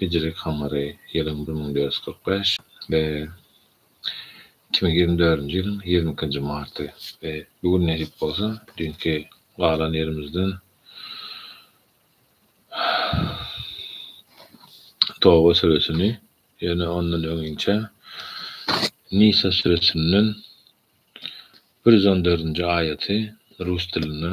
Hijri kamary ýylyň bir müň dört ýüz kyrk bäş we iki müň ýigrimi dördünji ýylyň ýigrimi ikinji marty we bu gün nesip bolsa düýnki galan ýerimizden Toba süresini ýöne ondan öňinçä Nisa süresinden bir ýüz on dördünji aýaty rus dilinde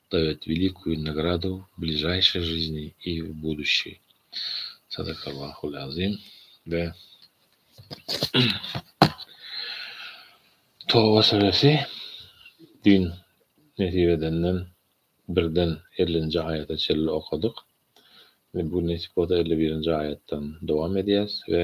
Dawet welikouýu nagradu w bližaýşej žizni i w buduşşi. Sadakallahu l-azim we Toba suresi düýn nesip edenden birden ellinji aýata çenli okadyk we bu gün nesip bolsa elli birinji aýatdan dowam edýäs we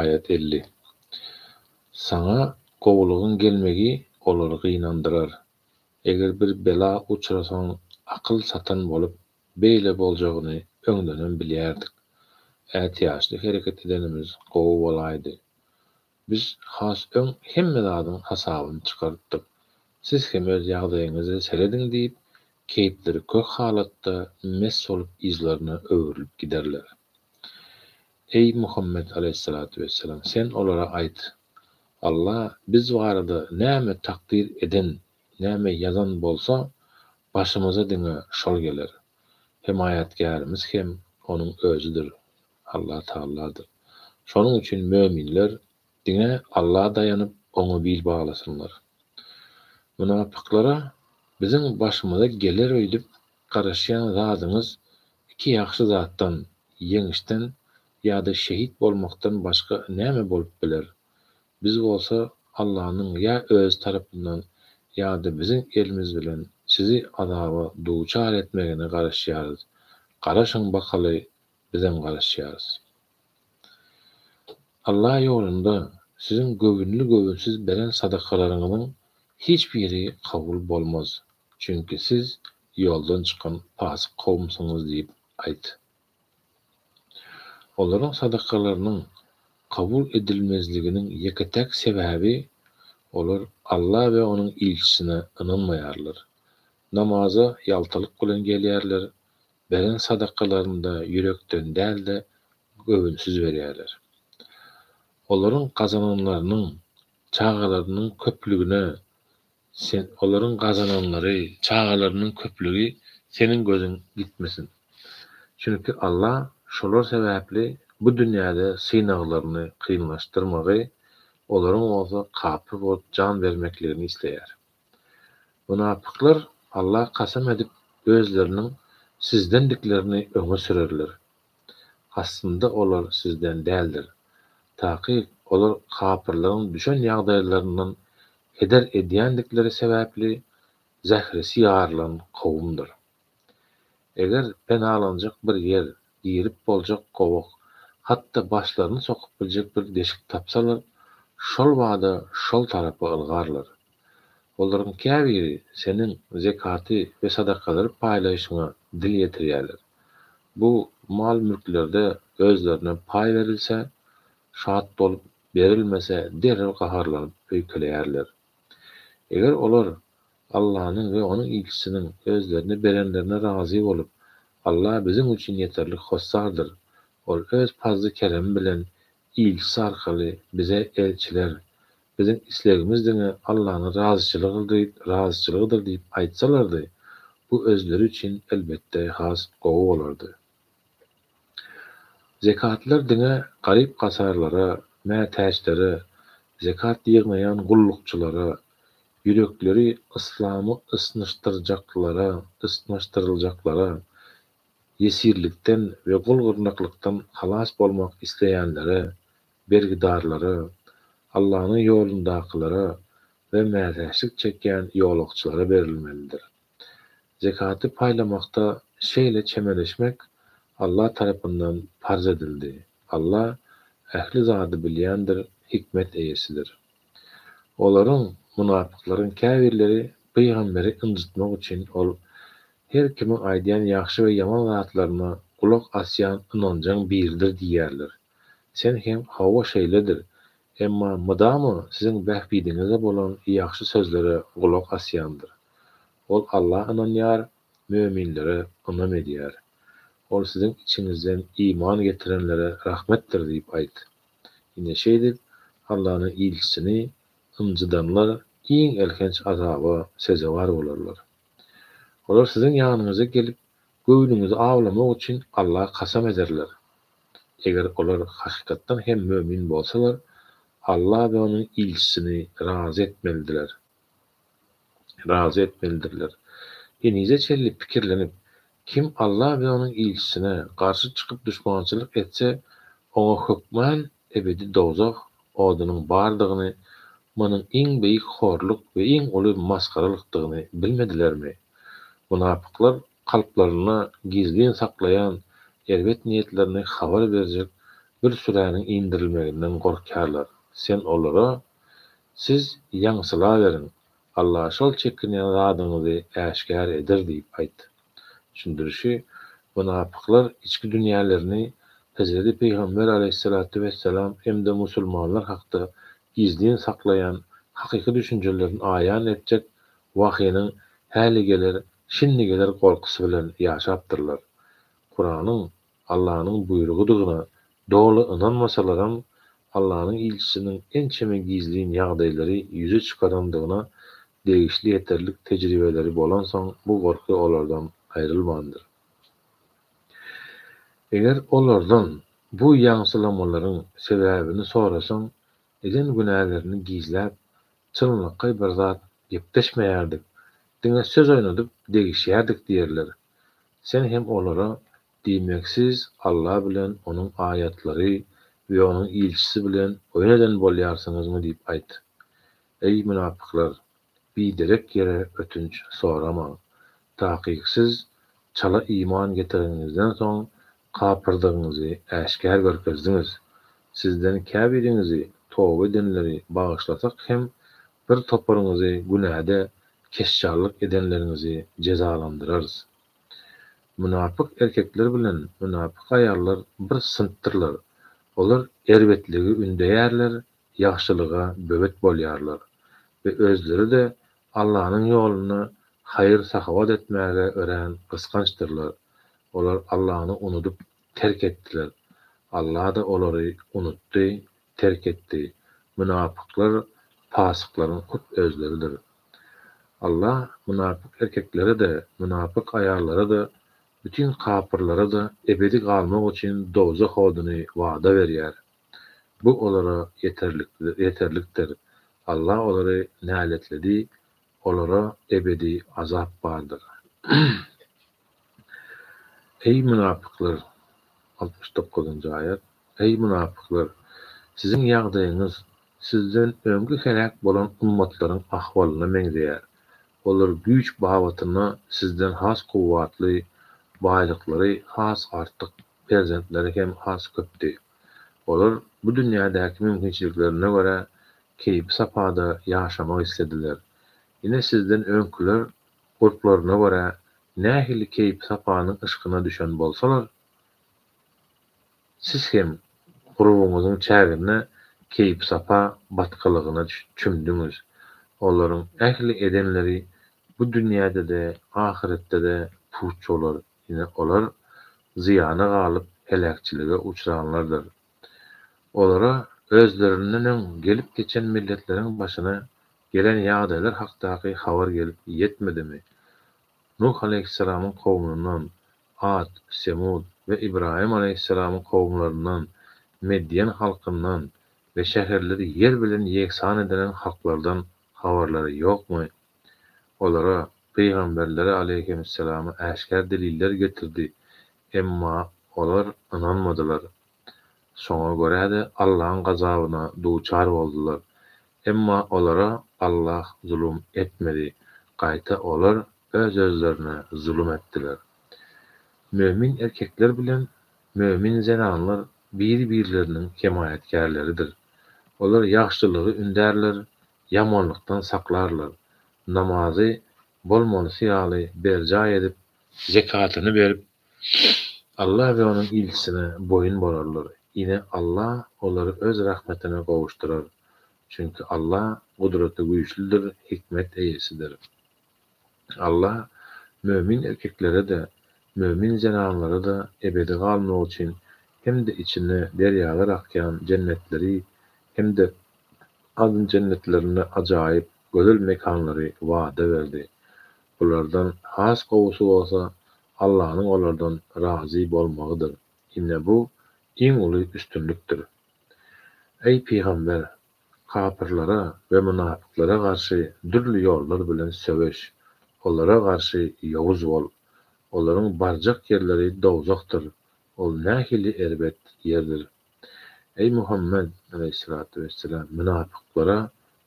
Aýat elli. Saňa gowulygyň gelmegi olary gynandyrar. Eger bir bela uçrasaň, akyl satan bolup, beýle boljagyny öňdenem bilýärdik. Ätiýaçly hereket edenimiz gowy bolaýdy. Biz has öň hemme zadyň hasabyny çykartdyk. Siz hem öz ýagdaýyňyza serediň diýip, keýpleri kök halatda mes bolup yzlaryna öwrülip giderler. Eý, Muhammet alaýhyssalatu wessalam, sen olara aýt, Alla biz barada näme takdyr eden, näme ýazan bolsa, başymyza diňe şol geler. Hemaýatgärimiz hem Onuň Özüdir. Allah Tagalladyr. Şonuň üçin möminler diňe Alla daýanyp, Oňa bil baglasynlar. Mynapyklara biziň başymyza geler öýdüp garaşýan zadyňyz iki ýagşy zatdan, ýeňişden ýa-da şehit bolmakdan başga näme bolup biler? Biz bolsa Allanyň ýa Özi tarapyndan ýa-da biziň elimiz bilen sizi azaba duçar etmegine garaşýarys. Garaşyň bakaly Bizem garaşýarys. Alla ýolunda siziň göwünli-göwünsiz beren sadakalaryňyzyň hiç biri kabul bolmaz, çünki siz ýoldan çykan pasyk kowumsyňyz diýip aýt. Olaryň sadakalarynyň kabul edilmezliginiň ýeke-täk sebäbi, olar Alla we Onuň ilçisine ynanmaýarlar, namaza ýaltalyk bilen gelýärler, beren sadakalaryny-da ýürekden däl-de, göwünsiz berýärler. Olaryň gazananlarynyň, çagalarynyň köplügine Sen, olaryň gazananlary, çagalarynyň köplügi Seniň gözüň ýitmesin. Çünki Alla şolar sebäpli bu dünýäde synaglaryny kynlaşdyrmagy, olaryň bolsa kapyr bolup jan bermekligini isleýär. Mynapyklar Alla kasam edip özleriniň sizdendiklerini öňe sürerler. Aslynda olar sizden däldir. Takyk olar kapyrlaryň düşen ýagdaýlaryndan heder edýändikleri sebäpli zähresi ýarylan kowumdyr. Eger penalanjak bir ýer, girip boljak gowak, hat-da başlaryny sokup biljek bir deşik tapsalar, şol bada şol tarapa ylgarlar. Olaryň käbiri seniň zekaty we sadakalary paýlaýşyňa dil ýetirýärler. Bu mal-mülklerde özlerine paý berilse, şat bolup, berilmese derrew gaharlanyp öýkeleýärler. Eger olar Allanyň we onuň ilçisiniň özlerine berenlerine razy bolup, Allah biziň üçin ýeterlik hossardyr. Ol Öz pazly-keremi bilen ilçisi arkaly bize elçiler, Biziň islegimiz diňe Allanyň razyçylygydyr diýip aýtsalardy, bu özleri üçin, elbetde, has gowy bolardy. Zekatlylar diňe garyp-gasarlara, mätäçlere, zekat ýygnaýan gullukçylara, ýürekleri yslamy ysnyşdyrjaklara, ysnyşdyryljaklara, ýesirlikden we gul-gyrnaklykdan halas bolmak isleýänlere, bergidarlara, Allanyň ýolundakylara we mätäçlik çekýän ýolagçylara berilmelidir. Zekaty paýlamakda şeýle çemeleşmek Allah tarapyndan parz edildi. Allah ähli zady bilýändir, hikmet eýesidir. Olaryň, munapyklaryň, käbirleri pygamberi ynjytmak üçin ol her kimiň aýdýan ýagşy we ýaman zatlaryna gulak asýan ynanjaň biridir diýýärler. Sen hem hawa şeýledir, emma mydama siziň bähbidiňize bolan ýagşy sözlere gulak asýandyr. Ol Alla ynanýar, möminlere ynam edýär. Ol siziň içiňizden iman getirenlere rahmetdir diýip aýt. Ine şeýdip, Allanyň ilçisini ynjydanlar iň elhenç azaba sezewar bolarlar. Olar siziň ýanyňyza gelip, göwnüňizi awlamak üçin Alla kasam ederler. Eger olar hakykatdan hem mömin bolsalar, Alla we onuň ilçisini razy etmelidiler. razy etmelidirler. Henize çenli pikirlenip, kim Alla we onuň ilçisine garşy çykyp duşmançylyk etse, oňa hökman ebedi dowzah odunyň bardygyny, munuň iň beýik horluk we iň uly masgaralykdygyny bilmedilermi? Mynapyklar kalplarynda gizlin saklaýan erbet niýetlerini habar berjek bir süräniň indirilmeginden gorkýarlar. Sen olara Siz ýaňsylaweriň, Alla şol çekinýän zadyňyzy äşgär eder diýip aýt. Düşündirişi, Mynapyklar içki dünýälerini Hezreti Pygamber aleýhyssalatu wessalam hem-de musulmanlar hakda gizlin saklaýan hakyky düşünjelerini aýan etjek wahynyň häli geler, şindi geler gorkusy bilen ýaşapdyrlar. Kuranyň Allanyň buýrugydygyna doly ynanmasalaram, Allanyň ilçisiniň ençeme gizlin ýagdaýlary ýüze çykarandygyna degişli ýeterlik tejribeleri bolansoň bu gorky olardan aýrylmandyr. Eger olardan bu ýaňsylamalaryň sebäbini sorasaň, eden günälerini gizläp, çynlakaý bir zat gepleşmeýärdik, diňe söz oýnadyp degişýärdik diýerler. Sen hem olara, Diýmek, siz Alla bilen Onuň aýatlary we Onuň ilçisi bilen oýun eden bolýarsyňyzmy diýip aýt. Eý, mynapyklar! Biderek ýere ötünç soramaň. Takyk siz çala iman getireniňizden soň kapyrdygyňyzy äşgär görkezdiňiz. Sizden käbiriňizi toba edenleri bagyşlasak hem, Bir toparyňyzy günäde keşşarlyk edenleriňizi jezalandyrarys. Mynapyk erkekler bilen mynapyk aýallar bir synpdyrlar. Olar erbetligi ündeýärler, ýagşylyga böwet bolýarlar we özleri-de Allanyň ýolunda haýyr-sahawat etmäge örän gysgançdyrlar. Olar Allany unudyp, terk etdiler. Alla-da olary unutdy terk etdi. Mynapyklar pasyklaryň hut özleridir. Allah mynapyk erkeklere-de, mynapyk aýallara-da, bütin kapyrlara-da ebedi galmak üçin dowzah oduny wada berýär. Bu olara ýeterlikdir. Allah olary näletledi Olara ebedi azap bardyr. Eý, mynapyklar! Altmyş dokuzynjy aýat. Eý, mynapyklar! Siziň ýagdaýyňyz sizden öňki heläk bolan ummatlaryň ahwalyna meňzeýär. Olar güýç babatynda sizden has kuwwatly, baýlyklary has artyk, perzentleri hem az-köpdi. Olar bu dünýädäki mümkinçiliklerine görä keýpi-sapada ýaşamak islediler. Ine sizden öňküler gurplaryna görä nähili keýpi-sapanyň yşkyna düşen bolsalar, siz hem gurbuňyzyň çäginde keýpi-sapa batgalygyna çümdüňiz. Olaryň ähli edenleri bu dünýäde-de, ahyretde-de puç bolar. Ine, olar zyýana galyp, heläkçilige uçranlardyr. Olara özlerinden öň gelip geçen milletleriň başyna gelen ýagdaýlar hakdaky habar gelip ýetmedimi? Nuh aleýhissalamyň kowmundan, At, Semud we Ybraýym aleýhissalamyň kowumlaryndan, Medýen halkyndan we şäherleri ýer bilen ýegsan edilen halklardan Habarlary ýokmy? Olara pygamberleri aleýhimessalama äşgär deliller getirdi, emma olar ynanmadylar. Şoňa görä-de, Allaň gazabyna duçar boldular. Emma olara Allah zulum etmedi, gaýta olar öz-özlerine zulum etdiler. Mömin erkekler bilen mömin zenanlar biri-birleriniň hemaýatkärleridir. Olar ýagşylygy ündärler, ýamanlykdan saklarlar, namazy bolmalysy ýaly berjaý edip, zekatyny berip, Alla we Onuň ilçisine boýun bolarlar, ine, Alla olary Öz rahmetine gowuşdyrar, çünki Alla Gudraty güýçlüdir, hikmet eýesidir. Allah mömin erkeklere-de, mömin zenanlara-da ebedi galmagy üçin hem-de içinde derýalar akýan jennetleri hem-de Adn jennetlerinde ajaýyp gözel mekanlary wada berdi. Bulardan has gowusy bolsa Allanyň olardan razy bolmagydyr. Ine bu, iň uly üstünlikdir. Eý, pygamber, Kapyrlara we mynapyklara garşy dürli ýollar bilen söweş, olara garşy ýowuz bol. Olaryň barjak ýerleri dowzahdyr, ol nähili erbet ýerdir! Eý, Muhammet, aleýhissalatu wessalam, mynapyklara,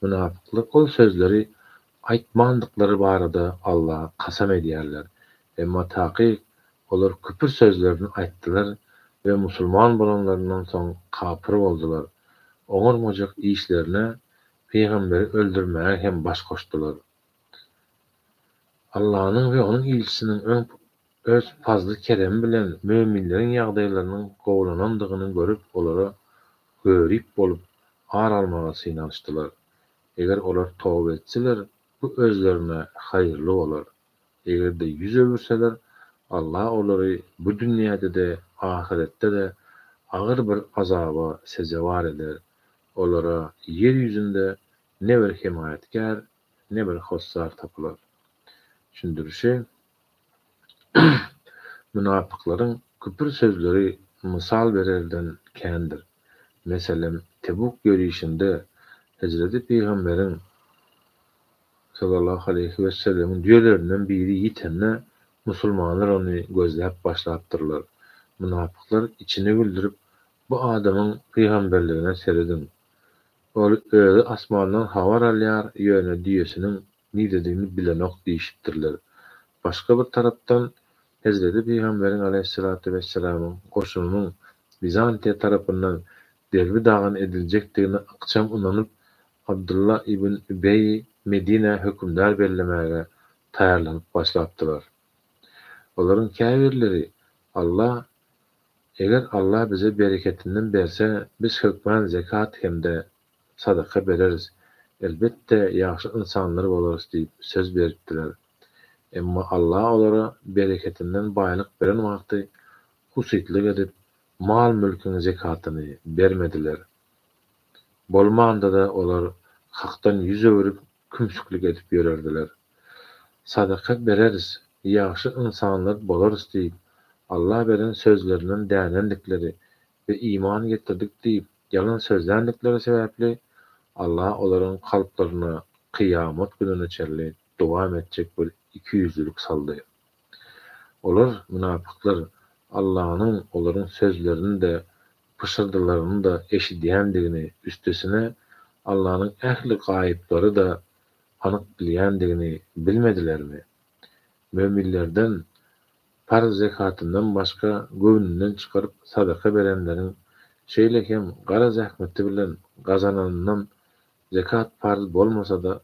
mynapyklar ol sözleri aýtmandyklary barada Allaha kasam edýärler, Emma takyk olar küpür sözlerini aýtdylar we musulman bolanlaryndan soň kapyr boldular, oňarmajak işlerine pygamberi öldürmäge hem baş goşdular. Allanyň we onuň ilçisiniň öň Öz pazly-keremi bilen möminleriň ýagdaýlarynyň gowulanandygyny görüp olara görip bolup ar almaga synanyşdylar. Eger olar toba etseler, bu özlerine haýyrly bolar. Eger-de ýüz öwürseler, Alla olary bu dünýäde-de, ahyretde-de agyr bir azaba sezewar eder, olara ýer ýüzünde ne bir hemaýatkär, ne bir hossar tapylar. Düşündirişi, Mynapyklaryň küpür sözleri mysal bererden kändir. Meselem, Tebuk ýörişinde Hezreti Pygamberiň. Sallallahu aleýhi wesellemiň düýelerinden biri ýitende, musulmanlar ony gözläp başlapdyrlar. Mynapyklar içini güldürip, Bu adamyň pygamberligine serediň. Ol özi asmandan habar alýar, ýöne düýesiniň niredigini bilenok diýşipdirler. Başga bir tarapdan, Hezreti pygamberiň aleýhissalatu wesselamyň goşunynyň Wizantiýa tarapyndan derbi dagan ediljekdigine ykjam ynanyp, Abdylla ibn Übeýi Medinä hökümdar bellemäge taýýarlanyp başlapdylar. Olaryň käbirleri, Alla, eger Alla bize bereketinden berse, biz hökman zekat hem-de sadaka bereris, elbetde, ýagşy ynsanlar bolarys diýip söz beripdiler. Emma Alla olara bereketinden baýlyk beren wagty husytlyk edip, Mal-mülküň zekatyny bermediler. Bolmanda-da olar Hakdan ýüz öwrüp, kümsüklik edip ýörerdiler. Sadaka bereris, ýagşy ynsanlar bolarys diýip, Alla beren sözlerinden dänendikleri we iman getirdik diýip, ýalan sözländikleri sebäpli Alla olaryň kalplaryna kyýamat gününe çenli dowam etjek bir ikiýüzlülik saldy. Olar, mynapyklar, Allanyň olaryň sözlerini-de, pyşyrdylaryny-da eşidýändigini, üstesine, Allanyň ähli gaýyplary-da anyk bilýändigini bilmedilermi? Möminlerden, parz zekatyndan başga göwnünden çykaryp sadaka berenleriň, şeýle hem gara zähmeti bilen gazananyndan Zekat parz bolmasa-da,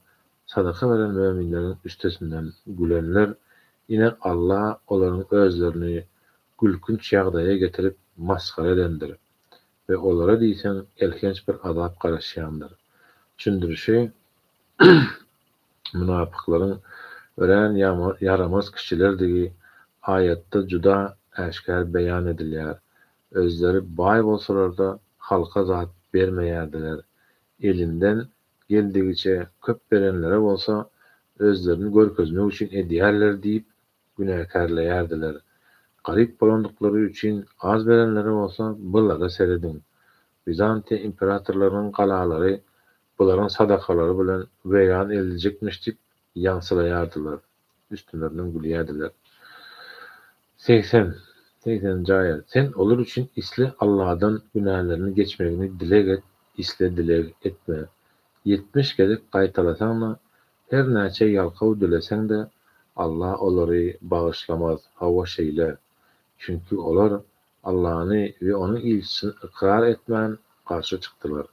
sadaka beren möminleriň üstesinden gülenler, ine, Alla olaryň özlerini gülkünç ýagdaýa getirip, masgara edendir we olara diýseň elhenç bir azap garaşýandyr. Düşündirişi, Mynapyklaryň örän ýaramaz kişilerdigi aýatda juda äşgär beýan edilýär. Özleri baý bolsalar-da, halka zat bermeýärdiler. elinden geldigiçe köp berenlere bolsa özlerini görkezmek üçin edýärler diýip günäkärleýärdiler. Garyp bolandyklary üçin az berenlere bolsa bulara serediň, Wizantiýa imperatorlarynyň galalary bularyň sadakalary bilen weýran ediljekmiş diýip Ýaňsylaýardylar, üstünlerden gülýärdiler. Segsen, segsen jaýat, sen olar üçin isle Alladan günälerini geçmegini dileg et, isle dileg etme. Ýetmiş gezek gaýtalasaň-da, her näçe ýalkaw dileseň-de, Alla olary bagyşlamaz, hawa şeýle. Çünki olar Allany we Onuň ilçisini ykrar etmän, garşy çykdylar.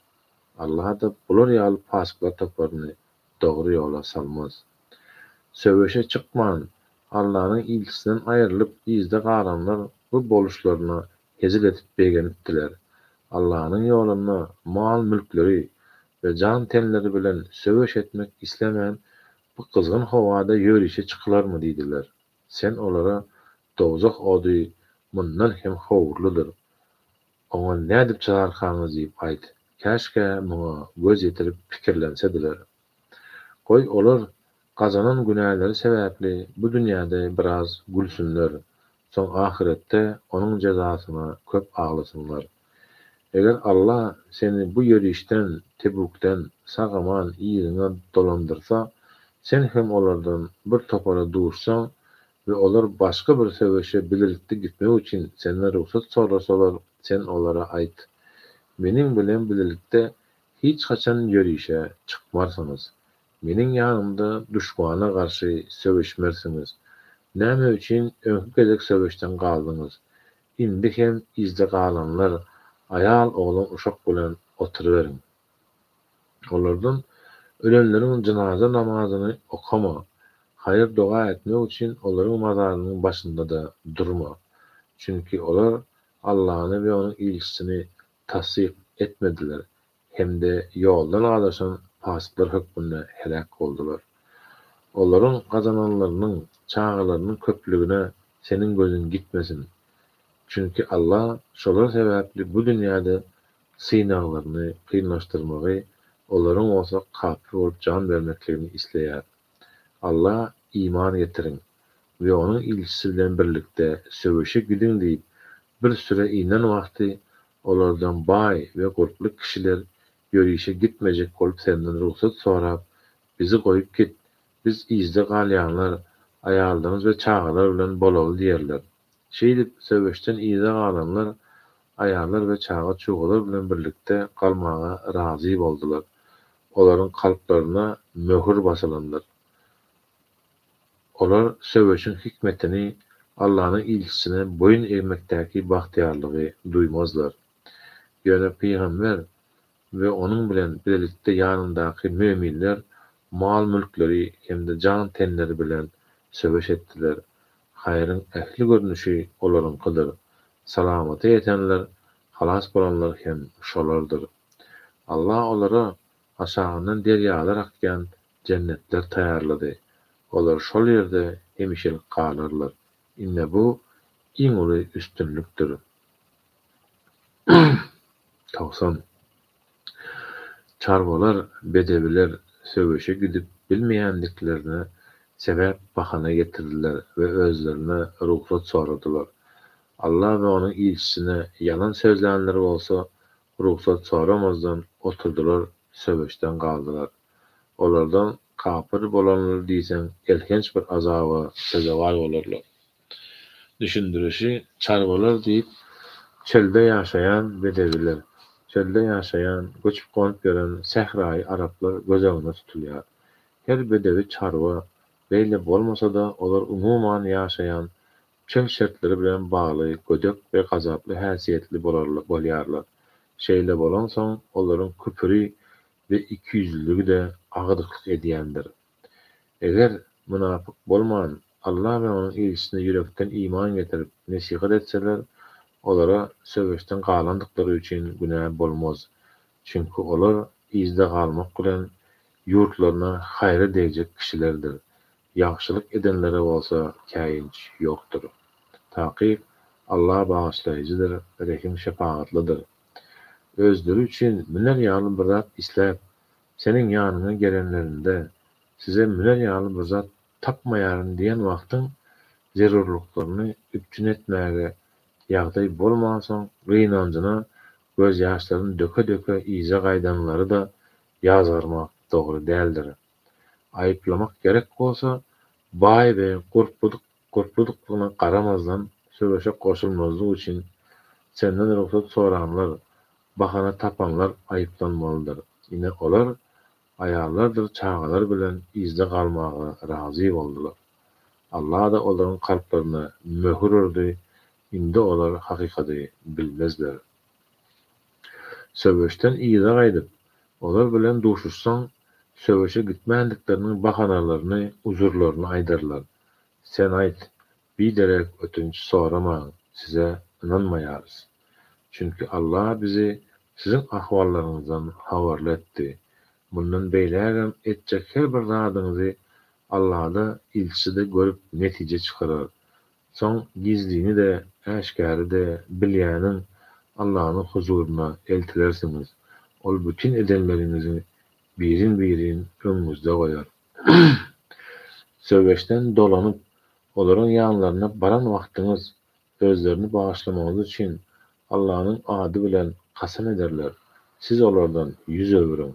Alla-da bular ýaly pasyklar toparyny dogry ýola salmaz. Söweşe çykman, Allanyň ilçisinden aýrylyp yzda galanlar bu boluşlaryna hezil edip begenipdiler. Allanyň ýolunda mal-mülkleri we jan-tenleri bilen söweş etmek islemän, bu gyzgyn howada ýörişe çykylarmy diýdiler. Sen olara, Dowzah ody mundan hem howurlydyr. Oňa nädip çygarkaňyz diýip aýt. Käşgä muňa göz ýetirip pikirlensediler. Goý, olar gazanan günäleri sebäpli bu dünýäde biraz gülsünler, soň ahyretde onuň jezasyna köp aglasynlar. Eger Alla seni bu ýörişden, Tebukden, sag-aman yzyňa dolandyrsa, sen hem olardan bir topara duşsaň, we olar başga bir söweşe bilelikde gitmek üçin senden rugsat sorasalar, sen olara aýt, Meniň bilen bilelikde hiç haçan ýörişe çykmarsyňyz, meniň ýanymda duşmana garşy söweşmersiňiz. Näme üçin öňki gezek söweşden galdyňyz? Indi hem yzda galanlar aýal-oglan-uşak bilen oturyberiň. Olardan ölenleriň jynaza namazyny okama, haýyr-doga etmek üçin olaryň mazarynyň başynda-da durma. Çünki olar Allany we Onuň ilçisini tassyk etmediler hem-de ýoldan azaşan pasyklar hökmünde heläk boldular. Olaryň gazananlarynyň, çagalarynyň köplügine seniň gözüň gitmesin. Çünki Allah şolar sebäpli bu dünýäde synaglaryny kynlaşdyrmagy, olaryň bolsa kapyr bolup jan bermekligini isleýär. Alla, Iman getiriň we Onuň ilçisi bilen birlikde söweşe gidiň diýip, bir süre inen wagty, olardan baý we gurply kişiler ýörişe gitmejek bolup senden rugsat sorap, Bizi goýup git, biz yzda galýanlar aýallaryňyz we çagalar bilen bolaly diýerler. Şeýdip, söweşden yza galanlar aýallar we çaga-çugalar bilen birlikde galmaga razy boldular. Olaryň kalplaryna möhür basylandyr. Olar söweşiň hikmetini, Allanyň ilçisine boýun egmekdäki bagtyýarlygy duýmazlar. Ýöne pygamber we onuň bilen bilelikde ýanyndaky möminler mal-mülkleri hem-de jan-tenleri bilen söweş etdiler. Haýryň ähli görnüşi olaryňkydyr. Salamata ýetenler, halas bolanlar hem şolardyr. Alla olara aşagyndan derýalar akýan jennetler taýýarlady. Olar şol ýerde hemişelik galarlar. Ine bu, iň uly üstünlikdir. Togsan. Çarwalar, bedewiler söweşe gidip bilmeýändiklerine sebäp, bahana getirdiler we özlerine rugsat soradylar. Alla we Onuň ilçisine ýalan sözlänler bolsa, rugsat soramazdan oturdylar, söweşden galdylar. Olardan kapyr bolanlar diýseň elhenç bir azaba sezewar bolarlar. Düşündirişi, Çarwalar diýip, çölde ýaşaýan bedewiler, çölde ýaşaýan, göçüp-gonup ýören sähraýy araplar göz öňünde tutulýar. Her bedewi çarwa, beýle bolmasa-da, olar umuman ýaşaýan çöl şertleri bilen bagly gödek we gazaply häsiýetli bolýarlar. Şeýle bolansoň, olaryň küpüri we ikiýüzlüligi-de agdyklyk edýändir. Eger mynapyk bolman, Alla we onuň ilçisine ýürekden iman getirip, nesihat etseler, olara söweşden galandyklary üçin günä bolmaz. Çünki olar yzda galmak bilen, ýurtlaryna haýry degjek kişilerdir. Ýagşylyk edenlere bolsa käýinç ýokdur. Takyk, Alla Bagyşlaýjydyr, Rehim-şepagatlydyr. Özleri üçin müner ýaly bir zat isläp, Seniň ýanyňa gelenlerinde, size müner ýaly bir zat tapmaýaryn diýen wagtyň zerurlyklaryny üpjün etmäge ýagdaý bolmansoň gynanjyna gözýaşlaryny döke-döke yza gaýdanlary-da ýazgarmak dogry däldir. Aýyplamak gerek bolsa, baý we gurpludyk Gurpludygyna garamazdan, söweşe goşulmazlyk üçin senden rugsat soranlar, bahana tapanlar aýyplanmalydyr. Ine, olar aýallardyr çagalar bilen yzda galmaga razy boldular. Alla-da olaryň kalplaryna möhür urdy, indi olar hakykady bilmezler. Söweşden yza gaýdyp, olar bilen duşuşsaň, söweşe gitmändikleriniň bahanalaryny, uzurlaryny aýdarlar. Sen aýt, biderek ötünç soramaň, size ynanmaýarys. Çünki Alla bizi siziň ahwallaryňyzdan habarly etdi. Mundan beýlägem etjek her bir zadyňyzy Allada, ilçide görüp netije çykarar. Soň gizlini-de, äşgäri-de bilýäniň Allanyň huzuryna eltilersiňiz. Ol bütin edenleriňizi birin-birin öňüňizde goýar. Söweşden dolanyp, olaryň ýanlaryna baran wagtyňyz, özlerini bagyşlamagyňyz üçin Allanyň ady bilen kasam ederler, siz olardan ýüz öwüriň.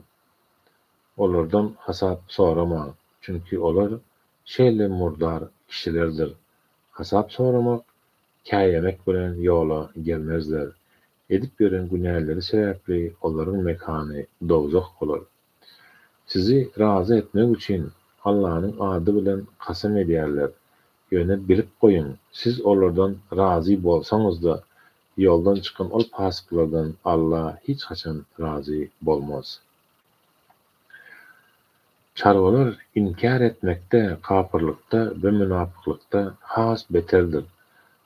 Olardan hasap soramaň, çünki olar şeýle murdar kişilerdir. Hasap soramak, käýemek bilen ýola gelmezler. Edip ýören günäleri sebäpli olaryň mekany dowzah bolar. Sizi razy etmek üçin Allanyň ady bilen kasam edýärler. Ýöne bilip goýuň, siz olardan razy bolsaňyz-da, ýoldan çykan ol pasyklardan Alla hiç haçan razy bolmaz. Çarwalar inkär etmekde, kapyrlykda we mynapyklykda has beterdir.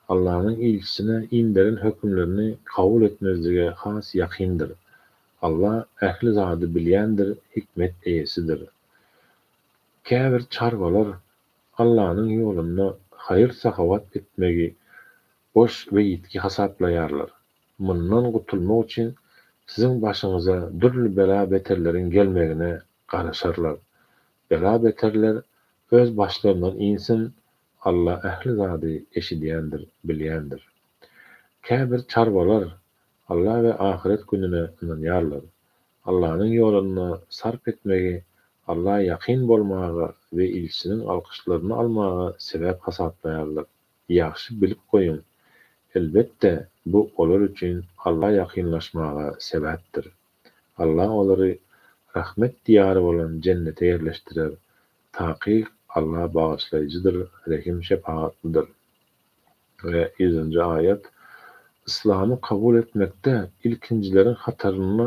Allanyň ilçisine inderen hökümlerini kabul etmezlige has ýakyndyr. Alla ähli zady bilýändir, hikmet eýesidir. Käbir çarwalar Allanyň ýolunda haýyr-sahawat etmegi boş we ýitgi hasaplaýarlar. Mundan gutulmak üçin siziň başyňyza dürli bela-beterleriň gelmegine garaşarlar. Bela-beterler öz başlaryndan insin, Alla ähli zady eşidýändir, bilýändir. Käbir çarwalar Alla we ahyret gününe ynanýarlar. Allanyň ýolunda sarp etmegi Alla ýakyn bolmaga we ilçiniň alkyşlaryny almaga sebäp hasaplaýarlar. Ýagşy bilip goýun. Elbetde, bu olar üçin Alla ýakynlaşmaga sebäpdir. Alla olary Rahmet diýary bolan Jennete ýerleşdirer. Takyk Alla Bagyşlaýjydyr, Rehim-şepagatlydyr. We ýüzünji aýat, Yslamy kabul etmekde ilkinjileriň hatarynda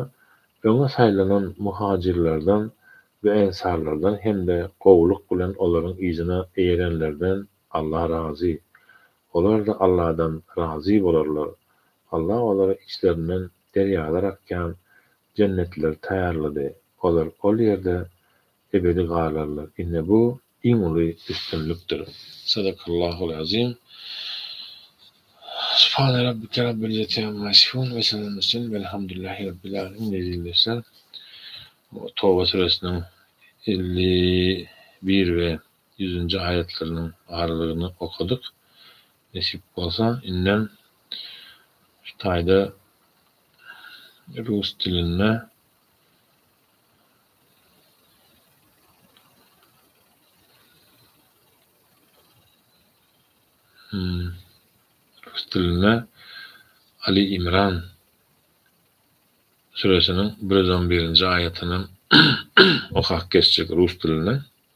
öňe saýlanan muhajirlerden we ensarlardan hem-de gowulyk bilen olaryň yzyna eýerenlerden Allah razy. Olar-da Alladan razy bolarlar. Allah olara içlerinden derýalar akýan Jennetleri taýýarlady. Olar ol ýerde ebedi galarlar. Ine bu, iň uly üstünlikdir. Sadakallahul Azim Subhane Rabbike Rabbil Izzeti Amma Yasifun Ve Selamun Murselin Velhamdülillahi Rabbil Alemin Ezizler Toba Süresiniň elli bir ve ýüzünji aýatlarynyň barlygyny okadyk. Nesip bolsa, indem şu taýda rus dilinde rus dilinde Ali Imran süresiniň bir ýüz on birinji aýatyny okap geçjek rus dilinde.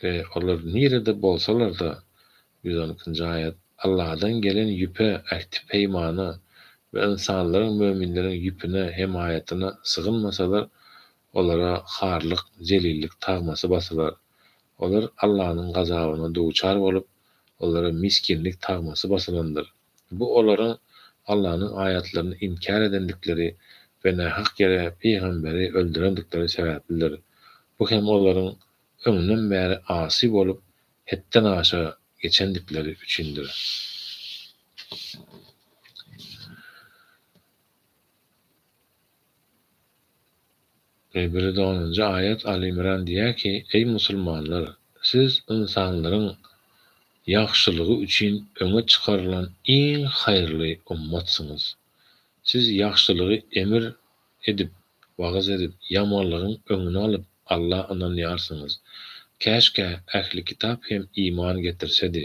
We olar nirede bolsalar-da, ýüz on ikinji aýat, Alladan gelen ýüpe, ähti-peýmana, we ynsanlaryň, möminleriň, ýüpüne, hemaýatyna, sygynmasalar, olara harlyk, zelillik, tagmasy basylar. Olar Allanyň gazabyna duçar bolup, olara misginlik tagmasy basylandyr. Bu olara Allanyň aýatlaryny inkär edendikleri we nähak ýere pygamberi öldürendikleri sebäplidir. Bu hem olaryň öňden bäri asy bolup, hetden aşa geçendikleri üçindir. Biri onunjy aýat Al-Imran diýýär ki, Eý musulmanlar! Siz ynsanlaryň ýagşylygy üçin öňe çykarylan iň haýyrly ummatsyňyz. Siz ýagşylygy emir edip, wagyz edip, ýamanlygyň öňüni alyp, Alla ynanýarsyňyz. Käşkä ähli kitap hem iman getirsedi.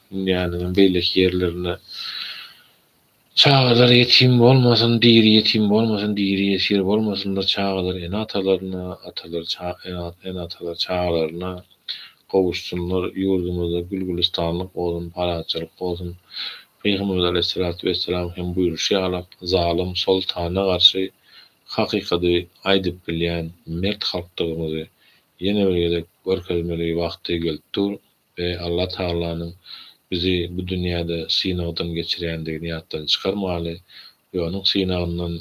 Dünýäniňem beýleki ýerlerinde Çagalar ýetim bolmasyn, diri ýetim bolmasyn, diri ýesir bolmasynlar, çagalar ene-atalaryna, atalar ene-atalar çagalaryna gowuşsynlar, ýurdumyzda gül-gülüstanlyk bolsun, parahatçylyk bolsun. Pygamberimiz aleýhissalatu wessalam hem buýruşy ýaly, zalym soltana garşy hakykady aýdyp bilýän mert halkdygymyzy ýene bir gezek görkezmeli wagty gelip dur. Eý, Alla Tagalanyň bizi bu dünýäde synagdan geçirýändigini ýatdan çykarmaly we onuň synagyndan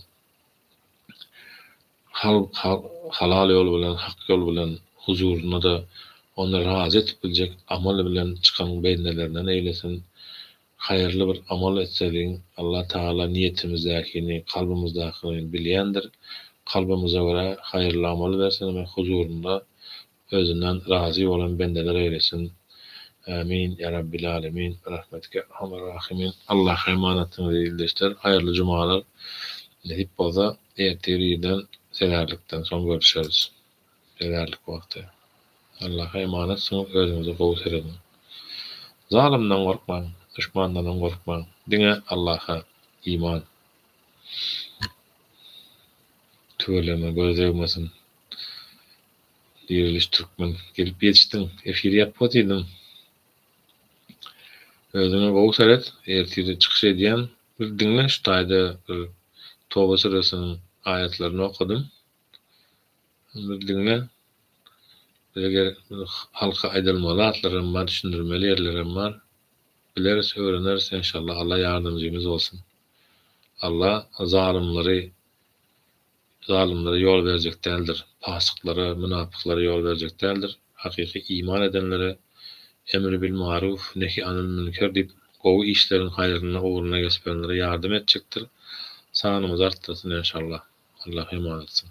halal ýol bilen, hak ýol bilen huzuryna-da Ony razy edip biljek amal bilen çykan bendelerinden eýlesin. Haýyrly bir amal etsedigiň, Alla Tagala niýetimizdäkini, kalbymyzdakyny bilýändir. Kalbymyza görä haýyrly amal bersin we huzurynda Özünden razy bolan bendeler eýlesin Ämin ýa Rabbil Alemin Birahmetika Erhamar Rahimin Allaha emanatdyňyz ildeşler haýyrly jumalar nesip bolsa ertir irden sezarlikden soň görüşeris sezarlik wagty Allaha emanatsyňyz özüňize gowy serediň zalymdan gorkmaň duşmandanam gorkmaň diňe Allaha iman tüweleme göz degmesin. Diriliş Türkmen gelip ýetişdiň. Efir ýap botidiň. Özüňe gowy seret ertire çykyş edýän bir diňle şu taýda bir Toba süresiniň aýatlaryny okadym. Bir diňle. Eger halka aýdylmaly zatlaram bar düşündirmeli ýerlerem bar. Bileris öwreneris enşalla Alla ýardamjymyz bolsun. Alla zalymlary Zalymlara ýol berjek däldir, pasyklara, mynapyklara ýol berjek däldir, hakyky iman edenlere Emri bil maruf, nehi anil münker diýip, gowy işleriň haýryna, ugruna geçiberenlere ýardam etjekdir. Sanyňyzy artdyrsyn enşallah. Allah eman etsin.